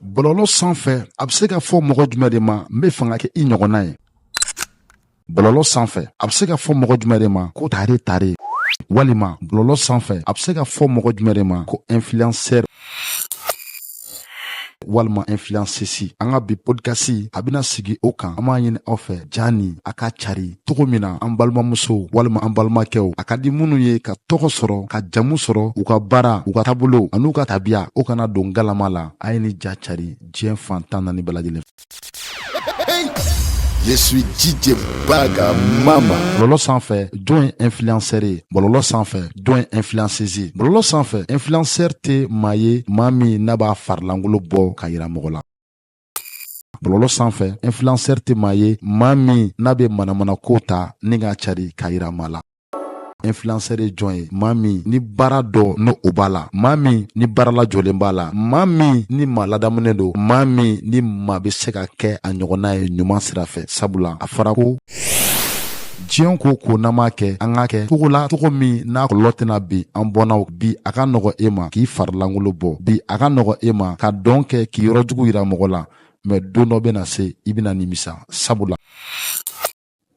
bɔlɔlɔ sanfɛ a bɛ se ka fɔ mɔgɔ jumɛn de ma n bɛ fɛ ka kɛ i ɲɔgɔnna ye bɔlɔlɔ sanfɛ a bɛ se ka fɔ mɔgɔ jumɛn de ma ko tare tare walima bɔlɔlɔ sanfɛ a bɛ se ka fɔ mɔgɔ jumɛn de ma ko influenceur walima influenceuse an ka bi podcast a bɛna sigi o kan an b'a ɲini aw fɛ ja nin a k'a cari cogo min na an balimamusow walima an balimakɛw a ka di minnu ye ka tɔgɔ sɔrɔ ka jamu sɔrɔ u ka baara u ka taabolow an'u ka tabiya o kana don galama la a ye ni ja cari diɲɛ fan tan naani bɛɛ lajɛlen Je suis DJ Baga Mama. Bɔlɔlɔ sanfɛ jɔn ye influenceur ye bɔlɔlɔ sanfɛ jɔn ye influenceuse ye bɔlɔlɔ sanfɛ influenceur tɛ maa ye maa min n'a b'a farilankolo bɔ k'a yira mɔgɔ la bɔlɔlɔ sanfɛ influenceur tɛ maa ye maa min n'a bɛ manamanakow ta ni k'a cari k'a yira maa la influenceur ye jɔn ye maa min ni baara dɔ ni o b'a la maa min ni baara lajɔlen b'a la maa min ni maa ladamunen don maa min ni maa bɛ se ka kɛ a ɲɔgɔnna ye ɲuman sira fɛ sabula a fɔra ko diɲɛ ko o ko n'an b'a kɛ an k'a kɛ cogo la cogo min n'a kɔlɔlɔ tɛna bin an bɔnnaw bi a ka nɔgɔ e ma k'i farilankolo bɔ bi a ka nɔgɔ e ma ka dɔn kɛ k'i yɔrɔ jugu yira mɔgɔ la mɛ don dɔ bɛna se i bɛna nimisa sabula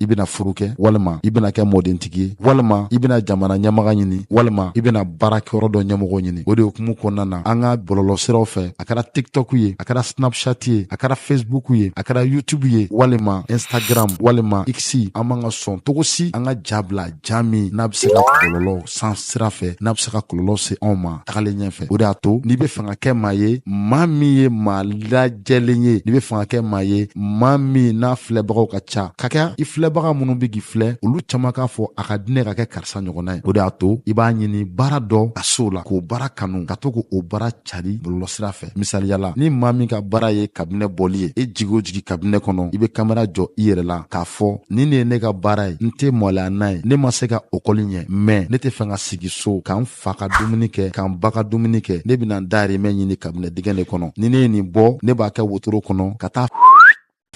i bɛna furu kɛ walima i bɛna kɛ mɔdentigi ye walima i bɛna jamana ɲɛmaga ɲini walima i bɛna baarakɛyɔrɔ dɔ ɲɛmɔgɔ ɲini o de hukumu kɔnɔna na an ka bɔlɔlɔsiraw fɛ a kɛra tiktok ye a kɛra snapchat ye a kɛra facebook ye a kɛra youtube ye walima instagram walima x an man ka sɔn cogo si an ka ja bila ja min n'a bɛ se ka kɔlɔlɔ s'an sira fɛ n'a bɛ se ka kɔlɔlɔ se anw ma tagalen ɲɛfɛ o de y'a to n'i bɛ fɛ ka kɛ maa ye maa min ye maa lajɛlen ye n'i bɛ fɛ ka kɛ maa ye maa min n'a filɛbagaw ka ca ka kɛ i filɛbaga minnu bɛ k'i filɛ olu caman k'a fɔ a ka di ne ka kɛ karisa ɲɔgɔnna ye o de y'a to i b'a ɲini baara dɔ ka s'o la k'o baara kanu ka to k'o baara cari bɔlɔlɔsira fɛ misaliya la ni maa min ka baara ye kabinɛ bɔli ye i jigi o jigi kabinɛ kɔnɔ i bɛ kamera jɔ i yɛrɛ la k'a fɔ nin de ye ne ka baara ye n tɛ maloya n'a ye ne ma se ka okɔli ɲɛ mɛn ne tɛ fɛ ka sigi so ka n fa ka dumuni kɛ ka n ba ka dumuni kɛ ne bɛna n dayirimɛ ɲini kabinɛ digɛn de kɔnɔ ni ne ye nin bɔ ne b'a kɛ wotoro kɔnɔ ka taa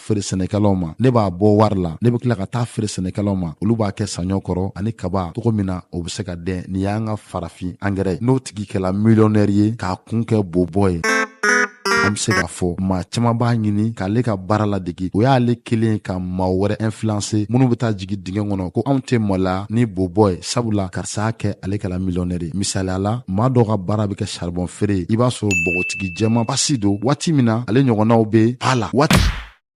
feere sɛnɛkɛlaw ma ne b'a bɔ wari la ne bɛ tila ka taa feere sɛnɛkɛlaw ma olu b'a kɛ saɲɔ kɔrɔ ani kaba cogo min na o bɛ se ka den nin y'an ka farafin angɛrɛ ye n'o tigi kɛla miliyɔnɛri ye k'a kun kɛ bobɔ ye an bɛ se k'a fɔ maa caman b'a ɲini k'ale ka baara ladege o y'ale kɛlen ye ka maa wɛrɛw influencer minnu bɛ taa jigi dingɛ kɔnɔ ko anw tɛ malo ni bobɔ ye sabula karisa y'a kɛ ale kɛla miliyɔnɛri ye misaliya la maa dɔ ka baara bɛ kɛ saribɔn feere i b'a sɔrɔ bɔgɔti tigi jɛman pasi don waati min na ale ɲɔgɔnnaw bɛ a la waati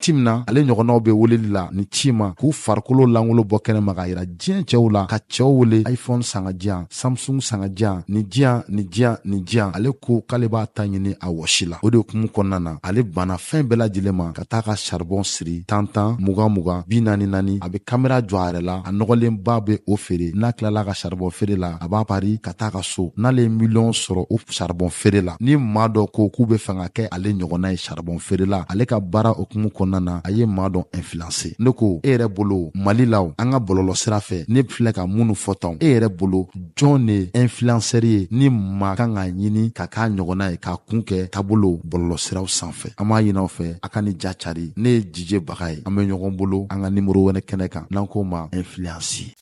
ti min na ale ɲɔgɔnnaw bɛ weleli la ni ci ma k'u farikolo lankolon bɔ kɛnɛ ma k'a yira diɲɛ cɛw la ka cɛw wele iphone san k'a di yan samsung san k'a di yan nin di yan nin di yan nin di yan ale ko k'ale b'a ta ɲini a wɔsi la o de hukumu kɔnɔna na ale banna fɛn bɛɛ lajɛlen ma ka taa ka saribɔn siri tan tan mugan mugan bi naani naani a bɛ kamera jɔ a yɛrɛ la a nɔgɔlenba bɛ o feere n'a tilala ka saribɔn feere la a b'a pari ka taa ka so n'ale ye miliyɔn sɔrɔ o saribɔn feere la ni maa dɔ ko k'u bɛ fɛ ka kɛ ale ɲɔgɔnna ye saribɔn feere la ale ka baara hukumu kɔnɔna na a ye maa dɔ influencer ne ko e yɛrɛ bolo mali la an ka bɔlɔlɔ sira fɛ ne filɛ ka minnu fɔ tan e yɛrɛ bolo jɔn de ye influenceur ye ni maa kan k'a ɲini ka k'a ɲɔgɔnna ye k'a kun kɛ taabolo bɔlɔlɔ siraw sanfɛ an b'a ɲini aw fɛ a ka nin ja cari ne ye dj baga ye an bɛ ɲɔgɔn bolo an ka nimoro wɛrɛ kɛnɛ kan n'an k'o ma influence